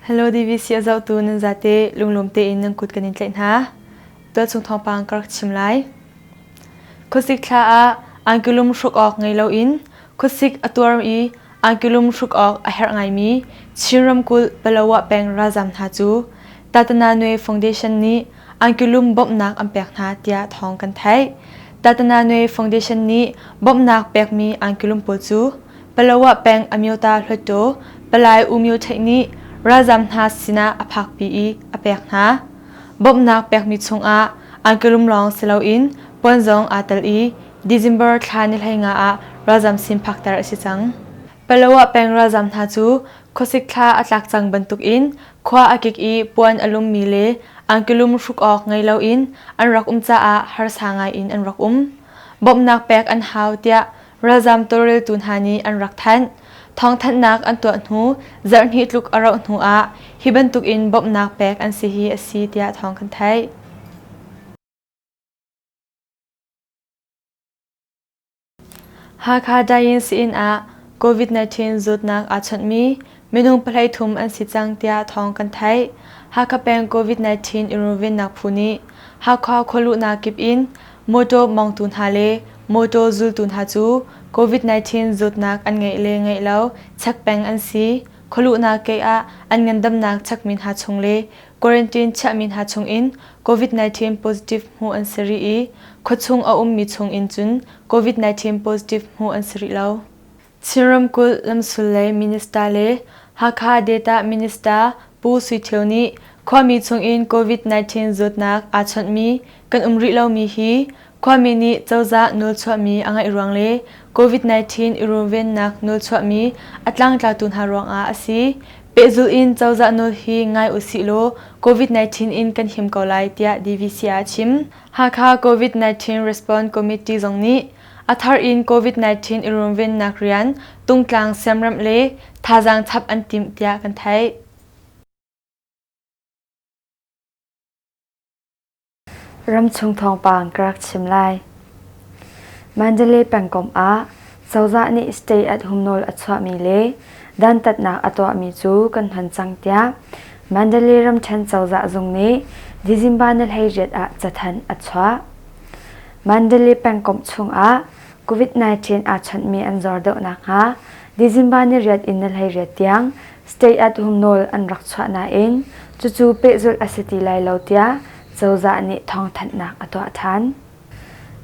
Hello DVC a zohtu nan zate lunglawm tein nan kut kan in tlaih hna. Tualchung thawngpang ka rak chim lai. Khuasik thla ah angkulum hruk awk ngei loin Khuasik a tuar i Angilum hruk awk a herh ngaimi Chin ramkulh Palawa peng ralzaam hna cu Tatananwe Foundation nih Angilum bawmhnak an pek hna tiah thawng kan theih. Tatananwe Foundation nih bawmhnak pekmi Angilum pawl cu Palawa peng Amyota Hluttaw Palai U Myo Theih nih ralzaam hna sinah a phakpi i a pek hna. Bawmhnak pekmi chungah Angilum lawng si loin puan zong aa tel i December thla ni hleinga ah ralzam sin phakter a si cang. Paloah peng ralzam hna cu khuasik thla a tlak cang bantuk in khua a kik i puan a lummi le angkilum hruk awk ngei loin an rak um caah harsa ngai in an rak um. Bawmhnak pek an hau tiah ralzam tawlreltu hna nih an rak thanh. Thawngthanhnak an tuah hnu zarhhnih tluk a rauh hnu ah hi bantuk in bawmhnak pek an si hi a si tiah thawng kan theih. Hakha Diane sin ah COVID-19 zawtnak aa chawnhmi minung pahhlei thum an si cang tiah thawng kan theih. Hakha peng COVID-19 in runvennak phu nih Hakha khualuhnak kip in mawtaw mawngtu hna le mawtaw zultu hna cu COVID-19 zawtnak an ngeih le ngeih lo chek peng an si, khualuhnak kei ah an ngandamnak chekmi hna chung le Quarantine chiahmi hna chungin COVID-19 positive hmuh an si rih i khuachung a ummi chungin cun COVID-19 positive hmuh an si rih lo. Chin ramkulh lamsul lei minister le Hakha Data Minister Pu Sui Thio nih khuami chungin COVID-19 zawtnak aa chawnhmi Kan um rih lomi hi khuami nih cozah nawlchuahmi a ngaih ruang le COVID-19 i runvennak nawlchuahmi a tlangtlatu hna ruangah a si. Pehzul in cozah nawl hi ngai usih law COVID-19 in kan him ko lai tiah DVCA a chim. Hakha COVID-19 Response Committee zong nih a thar in COVID-19 i runvennak rian tungtlang siamramh le thazaang chap an timh tiah kan theih. Ramchung thawngpang ka rak chim lai. Mandalay pengkomh ah cozah nih stay at home nawl a chuahmi le dantatnak a tuahmi cu kan hman cang tiah Mandalay ramṭhen cozah zung nih Dizimbanalhayriat ah cathanh a chuah. Mandalay pengkomh chungah COVID-19 aa chawnhmi an zor deuh nakhnga Dizimbanariat in nalhayriat tiang state ah tum nawl an rak chuah nain cucu pehzulh a si ti lai lo tiah cozah nih thawngthanhnak a tuah than.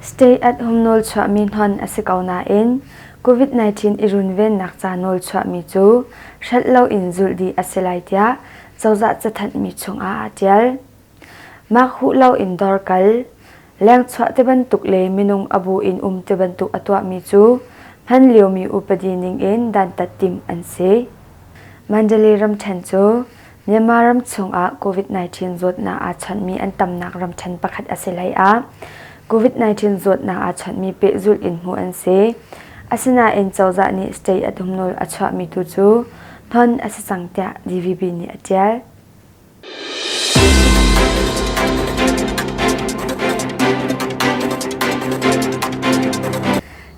State at-hum nawl chuahmi hnon a si ko nain COVID-19 i runvennak ca nawl chuahmi cu hrelh loin zulh dih a si lai tiah cozah cathanh mi chungah aa tial. Mah huh loin dawr kal, lengchuah ti bantuk le minung a bu in um ti bantuk a tuahmi cu hman liomi upadi ningin dantat timh an si. Mandalay ramṭhen cu Myanmar ram chungah COVID-19 zawtnak aa chawnhmi an tamnak ramṭhen pakhat a si hleiah COVID-19 zawtnak aa chawnhmi pehzulh in hmuh an si. Asinain cozah nih stay a tum nawl a chuahmi tu cu hnon a si cang tiah DVB nih a ṭial.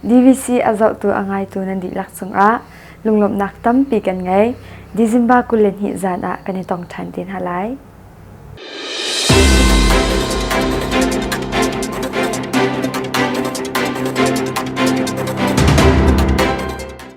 DVC a zohtu a ngaitu nan dihlak cungah lunglawmhnak tampi kan ngei. December kul le hnih zan ah kan i tong ṭhan te hna lai.